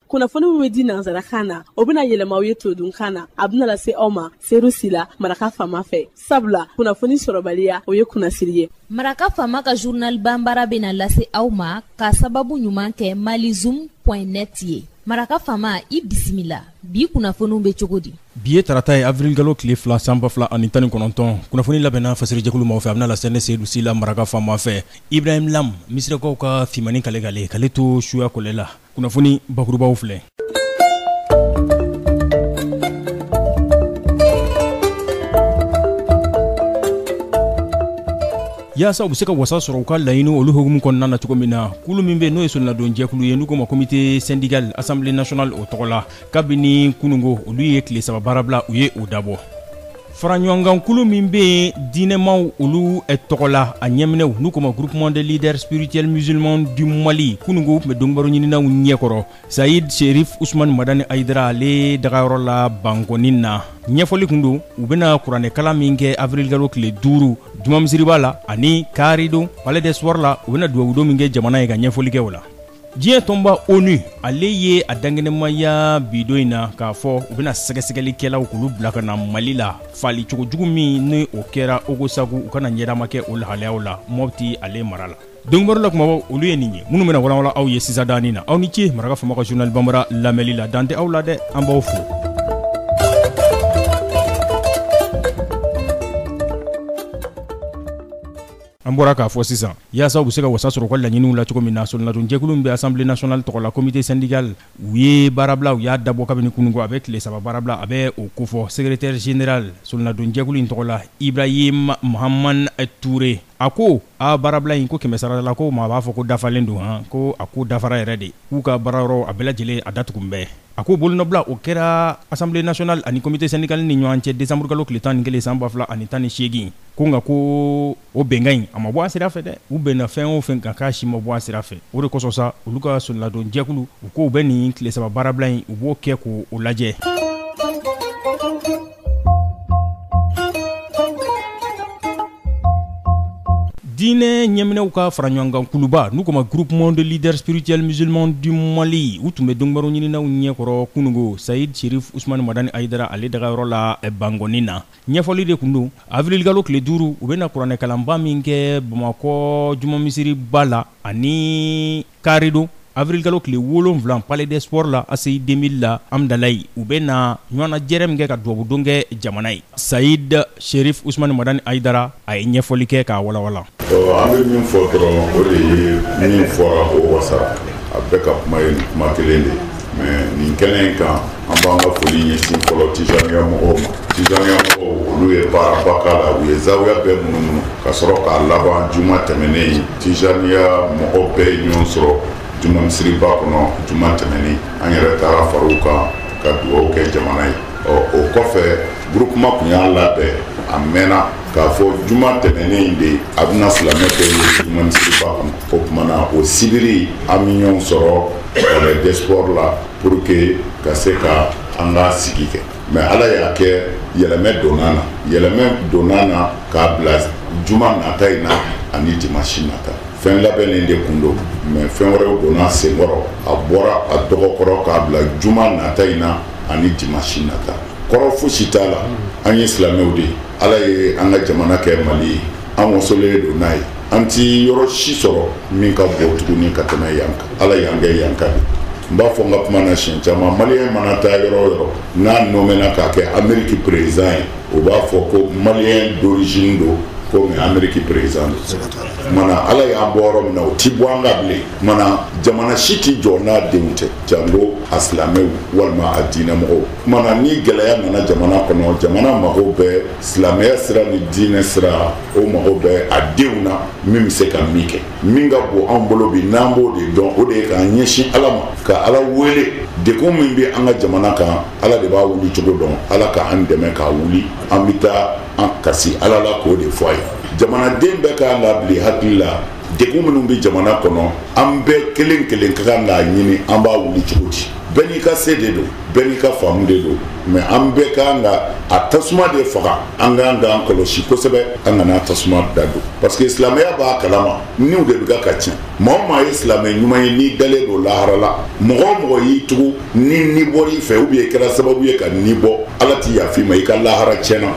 kunnafoni min bɛ di nansarakan na o bɛna yɛlɛma aw ye todunkan na a bɛna lase aw ma sedu sila maraka fama fɛ sabula kunnafoni sɔrɔbaliya o ye kunnasiri ye maraka fama ka journal banbara bɛna lase aw ma k'a sababu ɲuman kɛ malizoom point net ye maraka fama i bisimila bi kunnafoniw bɛ cogo di bi ye tarata ye avirilukalo tile fila san ba fila ani tan ni kɔnɔntɔn kunnafoni labɛnna fasirijɛkulu maaw fɛ a bɛna lase ne sedu sila maraka fama fɛ ibrahim lam misirakaw ka fimani kale kale k'ale to suya kɔlɛ la kunnafoni bakurubaw filɛ Yaasa u bɛ se ka wasa sɔrɔ u ka laɲini olu hukumu kɔnɔna na cogo min na, kulu min bɛ yen n'o ye solonadonjɛkulu ye n'u k'o ma comité syndical assemblée nationale o tɔgɔ la, kabini kunungo olu ye tile saba baarabila u ye o dabɔ. Faraɲɔgɔnkankulu min bɛ yen diinɛmaw olu tɔgɔ la, a ɲɛminɛw n'u k'o ma groupement des leaders spirituels musulmans du Mali, kunungo u tun bɛ donkibaruɲininaw ɲɛkɔrɔ. sayid sherif usman madani ayidara ale dagayɔrɔ la bankɔni na ɲɛfɔli kun don u bɛna kuranɛkalan min kɛ avirilgalo tile duuru jumamisiriba la ani karidon palais des sports la u bɛna dubabudon min kɛ jamana ye ka ɲɛfɔli kɛ o la diɲɛ tɔnba onu ale ye a dankɛnɛmaya bidon in na k'a fɔ u bɛna sɛgɛsɛgɛlikɛlaw k'olu bila ka na mali la faali cogo jugu min ni o kɛra ogosagu u ka na ɲɛdama kɛ o lahalayaw la mɔbiti ale mara la donkibaru la kumabaw olu ye nin ye minnu bɛna walanwalan aw ye sisan dani na aw ni ce maraka fama ka journal banbara lamɛnli la dan tɛ aw la dɛ an b'aw fo an bɔra k'a fɔ sisan yaasa u bɛ se ka wasa sɔrɔ u ka laɲiniw la cogo min na solonadonjɛkulu min bɛ assemblée nationale tɔgɔ la comité syndical u ye baarabila u y'a dabɔ kabini kunungo a bɛ tile saba baarabila a bɛ o kofɔ secrétaire général solonadonjɛkulu in tɔgɔ la ibrahim mahaman ture a ko aa baarabila in ko kɛmɛ sarala la ko maa b'a fɔ ko dafalen don han ko a ko dafara yɛrɛ de k'u ka baarayɔrɔ a bɛɛ lajɛlen a datugun bɛɛ a ko bolonɔbila o kɛra assemblée nationale ani comité syndical ni ɲɔgɔn cɛ desanburukalo tile tan ni kelen san ba fila ani tan ni segin ko nka ko o bɛnkan in a ma bɔ a sira fɛ dɛ u bɛnna fɛn o fɛn kan k'a si ma bɔ a sira fɛ o de kosɔn sa olu ka solonadonjɛkulu u k'u bɛ nin tile saba baarabila in u b'o kɛ k'o lajɛ diinɛ ɲɛminɛw ka faraɲɔgɔnkankuluba n'u k'o ma groupement des leaders spirituels musulmans du mali u tun bɛ donkibaruɲininaw ɲɛkɔrɔ kunungo sayid sherif usumani madani ayidara ale dagayɔrɔ la bankɔni na ɲɛfɔli de kun don avrilikalo tile duuru u bɛna kuranɛkalanba min kɛ bamakɔ juma misiriba la ani karidon avrilikalo tile wolonwula palais des sports la aseyi 2000 la amdalayi u bɛna ɲɔgɔnnajɛrɛ min kɛ ka dubabudon kɛ jamana ye sayid sherif usumani madani ayidara a ye ɲɛfɔli kɛ k'a walawalan. an bɛ min fɔ dɔrɔn o de ye min fɔra o wasara a bɛɛ ka kuma ye kuma kelen de mais nin kɛnɛ in kan an b'an ka foli ɲɛsin fɔlɔ tijaniya mɔgɔw ma tijaniya mɔgɔw olu ye baaraba k'a la u ye zawiya bɛɛ munumunu ka sɔrɔ k'a laban juma tɛmɛnen in tijaniya mɔgɔ bɛɛ ye ɲɔgɔn sɔrɔ juma misiriba kɔnɔ juma tɛmɛnen an yɛrɛ taara fara u kan ka dugawu kɛ jamana ye ɔ o kɔfɛ Groupement kun y'a labɛn a mɛnna k'a fɔ juma tɛmɛnen in de a bɛna silamɛ kɛ ye juma misiriba kɔnɔ o tuma na o sibiri an bɛ ɲɔgɔn sɔrɔ palais des sports la pour que ka se ka an ka sigi kɛ mais ala y'a kɛ yɛlɛmɛ donna na yɛlɛmɛ donna na k'a bila juma nata in na ani dimanche nata fɛn labɛnnen de kun don mais fɛn wɛrɛw donna sen kɔrɔ a bɔra a dɔgɔ kɔrɔ k'a bila juma nata in na ani dimanche nata kɔrɔ fosi t'a la an ye silamɛw de ye ala ye an ka jamana kɛ mali ye an wasolen don n'a ye an tɛ yɔrɔ si sɔrɔ min ka bon tuguni ka tɛmɛ yan kan ala y'an kɛ yan kan n b'a fɔ n ka kuma na siɲɛ caman maliyɛn mana taa yɔrɔ o yɔrɔ n'a nɔmɛna k'a kɛ ameriki perezidan ye o b'a fɔ ko maliyɛn d'origine don komi ameriki perezidan don mana ala y'an bɔ yɔrɔ min na o ti bɔ an kan bilen mana jamana si ti jɔ n'a denw tɛ jango a silamɛw walima a diinɛmɔgɔw Tuma na ni gɛlɛya nana jamana kɔnɔ jamana mago bɛ silamɛya sira ni diinɛ sira o mago bɛ a denw na min bɛ se ka min kɛ min ka bon an bolo bi n'an b'o de dɔn o de ye k'an ɲɛsin ala ma ka ala wele degun min bɛ an ka jamana kan ala de b'a wuli cogo dɔn ala k'an dɛmɛ k'a wuli an bɛ taa an kasi ala la k'o de fɔ a ye jamanaden bɛɛ k'an labila hakili la degun minnu bɛ jamana kɔnɔ an bɛɛ kelen kelen ka kan k'a ɲini an b'a wuli cogo di bɛɛ n'i ka se de don bɛɛ n'i ka faamu de don mais an bɛɛ ka kan ka a tasuma de faga an ka kan k'an kɔlɔsi kosɛbɛ an kana tasuma da don parce que silamɛya b'a kalama niw de bɛ ka ka tiɲɛ maa o maa ye silamɛ ɲuman ye n'i dalen don lahara la mɔgɔ o mɔgɔ y'i tugu ni ni bɔr'i fɛ ou bien i kɛra sababu ye ka ni bɔ ala ti yafa i ma i ka lahara tiɲɛna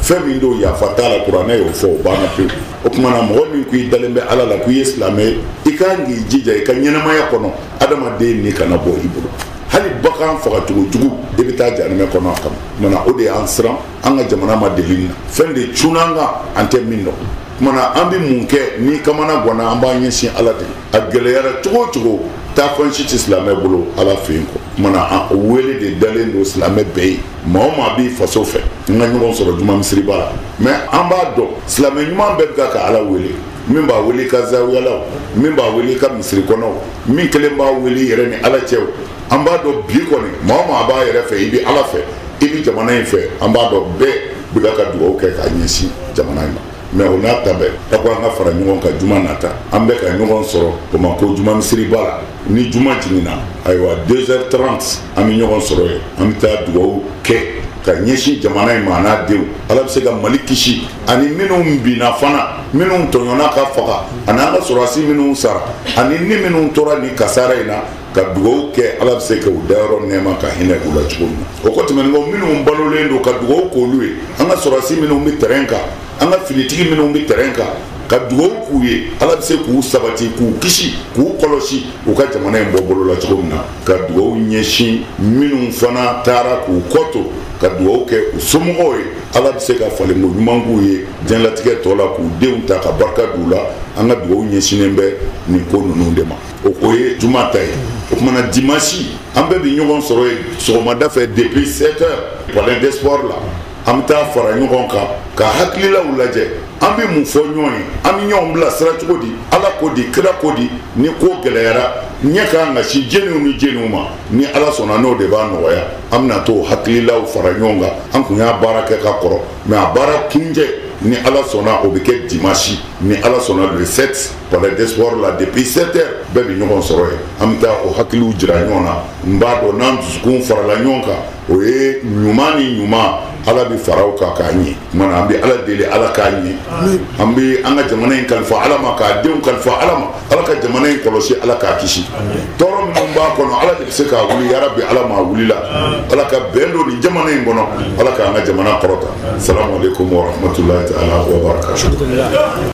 fɛn min don yafa t'a la kuranɛ y'o fɔ o banna pewu o tuma na mɔgɔ min ko i dalen bɛ ala la ko i ye silamɛ ye i ka kan k'i jija i ka ɲɛnamaya kɔnɔ adamaden ni kana bɔ i bolo hali bagan fagacogo jugu i bɛ taa jahanɛmɛ kɔnɔ a kama mana o de y'an siran an ka jamana ma deli nin na fɛn de cunna an kan an tɛ min dɔn kumana an bɛ mun kɛ ni kamana gwanna an b'an ɲɛsin ala de a gɛlɛyara cogo o cogo taa fan si tɛ silamɛ bolo ala fɛ yen kɔ kumana an wele de dalen don silamɛ bɛɛ ye maa o maa b'i faso fɛ an ka ɲɔgɔn sɔrɔ juma misiriba la mais an b'a dɔn silamɛ ɲuman bɛɛ bɛ ka ka ala wele min b'a wele ka zawiyalaw min b'a wele ka misiri kɔnɔw min kelen b'a wele yɛrɛ ni ala cɛw an b'a dɔn bi kɔni maa o maa b'a yɛrɛ fɛ i bɛ ala fɛ i bɛ jamana in fɛ an b'a dɔn bɛɛ bɛ ka ka dugawu kɛ k'a ɲɛsin jamana in ma mais o n'a ta bɛɛ a ko an ka fara ɲɔgɔn kan juma nata an bɛ ka ɲɔgɔn sɔrɔ bamakɔ juma misiriba la ni juma jiginna ayiwa 2 heures 30 an bɛ ɲɔgɔn sɔrɔ yen an bɛ taa dugawu kɛ ka ɲɛsin jamana in ma n'a denw ala bɛ se ka mali kisi ani minnu binna fana minnu tɔɲɔnna ka faga ani an ka sɔrɔdasi minnu sara ani ni minnu tora ni kasara in na ka dugawu kɛ ala bɛ se ka u dayɔrɔ nɛɛma ka hinɛ u la cogo min na o kɔ tɛmɛnen kɔ minnu balolen don ka dugawu k'olu ye an ka sɔrɔdasi minnu bɛ terrain kan an ka finitigi minnu bɛ terrain kan ka dugawu k'u ye ala bɛ se k'u sabati k'u kisi k'u kɔlɔsi u ka jamana in bɔ bolo la cogo min na ka dugaw ɲɛsin minnu fana taara k'u kɔto ka dugaw kɛ u somɔgɔw ye ala bɛ se ka falenko ɲuman k'u ye diɲɛlatigɛ tɔ la k'u denw ta ka barika d'u la an ka dugaw ɲɛsinnen bɛ nin ko ninnu de ma o ye juma ta ye o tumana dimasi an bɛɛ bɛ ɲɔgɔn sɔrɔ yen sɔgɔmada fɛ depuis 7 heures palais des sports la an bɛ taa fara ɲɔgɔn kan ka hakililaw lajɛ an bɛ mun fɔ ɲɔgɔn ye an bɛ ɲɔgɔn bila sira cogo di ala ko di kira ko di ni ko gɛlɛyara ɲɛ ka kan ka sin jɛniw ni jɛniw ma ni ala sɔnna n'o de b'a nɔgɔya an bɛna t'o hakililaw fara ɲɔgɔn kan an kun y'a baara kɛ ka kɔrɔ mais a baara kuncɛ ni ala sɔnna o bɛ kɛ dimasi ni ala sɔnna le 7 palais des sports la depuis 7 heures bɛɛ bɛ ɲɔgɔn sɔrɔ yen an bɛ taa o hakiliw jira ɲɔgɔn na n b'a dɔn n'an dusukun farala ɲɔgɔn kan o ye ɲuman ni ɲuman ala bɛ fara o kan k'a ɲɛ an bɛ ala deli ala k'a ɲɛ an bɛ an ka jamana in kalifa ala ma k'a denw kalifa ala ma ala ka jamana in kɔlɔsi ala k'a kisi tɔɔrɔ minnu b'a kɔnɔ ala de bɛ se k'a wuli yarabi ala m'a wulila ala ka bɛn don nin jamana in kɔnɔ ala k'an ka jamana kɔrɔta salamu alaikum wa rahmatulahi ta'ala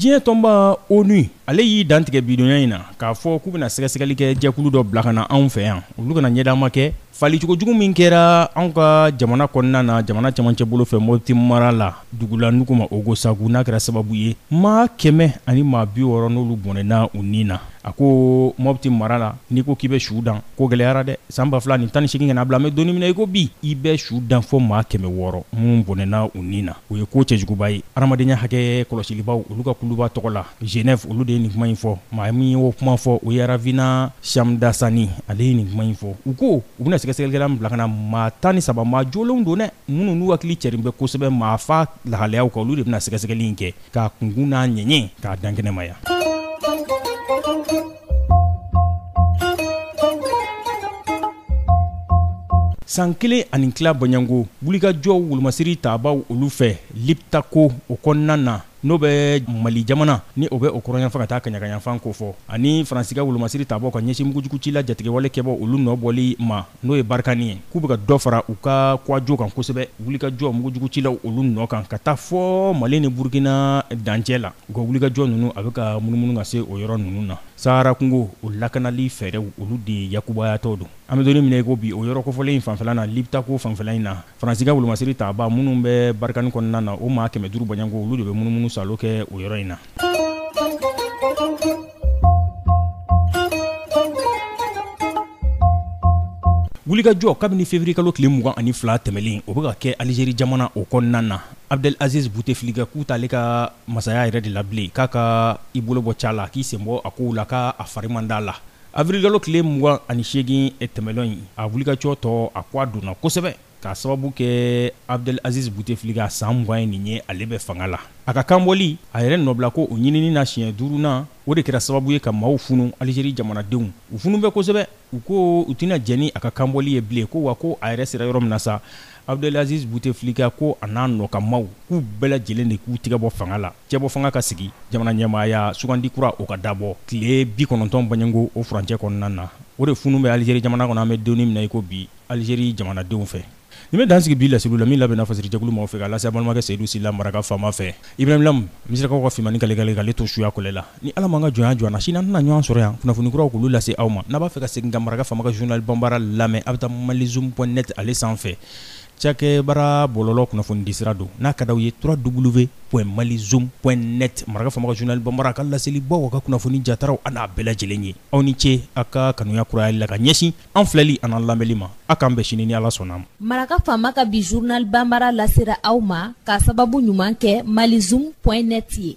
diɲɛ tɔnba onu ale y'i dantigɛ bidonya in na k'a fɔ k'u bɛna sɛgɛsɛgɛli kɛ jɛkulu dɔ bila ka na anw fɛ yan olu ka na ɲɛdan ma kɛ falicogo jugu min kɛra anw ka jamana kɔnɔna na jamana camancɛ bolo fɛ mɔti mara la dugu la n'u k'o ma ogosagu n'a kɛra sababu ye maa kɛmɛ ani maa bi wɔɔrɔ n'olu bɔnɛna u ni na a ko mɔti mara la n'i ko k'i bɛ su dan ko gɛlɛyara dɛ san ba fila ni tan ni segin ka na bila an bɛ don min na i ko bi i bɛ su dan fɔ maa kɛmɛ wɔɔrɔ minnu bɔnɛna u ni na o ye ko cɛjuguba ye adamadenya hakɛ kɔlɔsilibaw olu ka kuluba tɔgɔ la genève olu de ye nin kuma in fɔ maa min ye o kuma fɔ o ye ravina shamdasani ale ye nin kuma in fɔ u ko u bɛna sɛgɛsɛgɛlila bila ka na maa tan ni saba maa jolenw don dɛ minnu n'u hakili cɛrin bɛ kosɛbɛ maafa lahalayaw kan olu de bɛna na sɛgɛsɛgɛli in kɛ k'a kunkun n'a ɲɛɲɛ k'a dan kɛnɛmaya. san kelen ani tila bɔɲɔgɔnko wulikajɔw wolomasiri taabaw olu fɛ liptako o kɔnɔna na n'o bɛ mali jamana ni o bɛ o kɔrɔnyanfan ka taa kaɲagayanfan ko fɔ ani faransi ka wolomasiri taabaw ka ɲɛsin mugujugucila jatigɛwale kɛbaw olu nɔ bɔli ma n'o ye barikani ye k'u bɛ ka dɔ fara u ka kuwajo kan kosɛbɛ wulikajɔ mugujugucilaw olu nɔ kan ka taa fɔ mali ni burukina dancɛ la u ka wulikajɔ ninnu a bɛ ka munumunu ka se o yɔrɔ ninnu na sahara kungo o lakanali fɛɛrɛw olu de yakubayatɔ don an bɛ donni min na i ko bi o yɔrɔ kofɔlen in fanfɛla na liptako fanfɛla in na Faransi ka wolomasiri taabaa minnu bɛ Barikani kɔnɔna na, o maa 500 bɔɲɔgɔnko, olu de bɛ munumunu salo kɛ o yɔrɔ in na. Wulikajɔ kabini feburuyekalo tile 22 tɛmɛlen, o bɛ ka kɛ Alizeri jamana o kɔnɔna na. Abdel Aziz Bouteflika k'u t'ale ka masaya yɛrɛ de la bilen, k'a ka i bolo bɔ ca la, k'i sen bɔ a kow la, k'a fari man d'a la. Awirilikalo tile 28 tɛmɛlen in a wulikajɔ tɔ a ko a donna kosɛbɛ k'a sababu kɛ Abdel Aziz Bouteflika san 20 ye nin ye ale bɛ fanga la a ka kanbɔli a yɛrɛ nɔbilako o ɲinini na siɲɛ duurunan o de kɛra sababu ye ka maaw funu alizeri jamanadenw u funu bɛ kosɛbɛ u ko u tɛna jɛn ni a ka kanbɔli ye bilen ko wa ko a yɛrɛ sera yɔrɔ min na sa Abdelaziz Bouteflika ko a n'a nɔkamaw k'u bɛɛ lajɛlen de k'u tigɛ bɔ fanga la, cɛbɔfanga ka sigi, jamanaɲɛmaaya sugandi kura o ka dabɔ tile 90 bɔɲɔgɔnko o furancɛ kɔnɔna na. O de funun bɛ Alizeri jamana kɔnɔ an bɛ donni min na i ko bi, Alizeri jamanadenw fɛ. Nin bɛ dan sigi bi laseliw la, min labɛnna fasirijɛkulu maaw fɛ k'a lase an balimakɛ Seyidu Sila Maraka faama fɛ. Ibrahim Lam, Misirakaw ka finmani kale kale k'ale to suya kɔlɛ la. Ni Ala m'an ka jɔnya jɔ an na, sini an tɛna ɲɔgɔn sɔrɔ yan kunnafoni kuraw k'olu lase aw ma. N'a b'a fɛ ka segin ka maraka faama ka journal Banbara lamɛn, a bɛ taa malizoom point net ale sanfɛ. Cakɛbara bɔlɔlɔ kunnafonidisira don. N'a ka d'aw ye www.malizoom.net maraka faama ka journal Banbara a ka laselibaw, a ka kunnafoni jataraw, a n'a bɛɛ lajɛlen ye. Aw ni ce, aw ka kanuya kurayali la ka ɲɛsin an filɛli an'an lamɛnli ma a k'an bɛn sini ni ala sɔnna a ma maraka faama ka bi journal banbara lasera aw ma k'a sababu ɲuman kɛ malizoom point net ye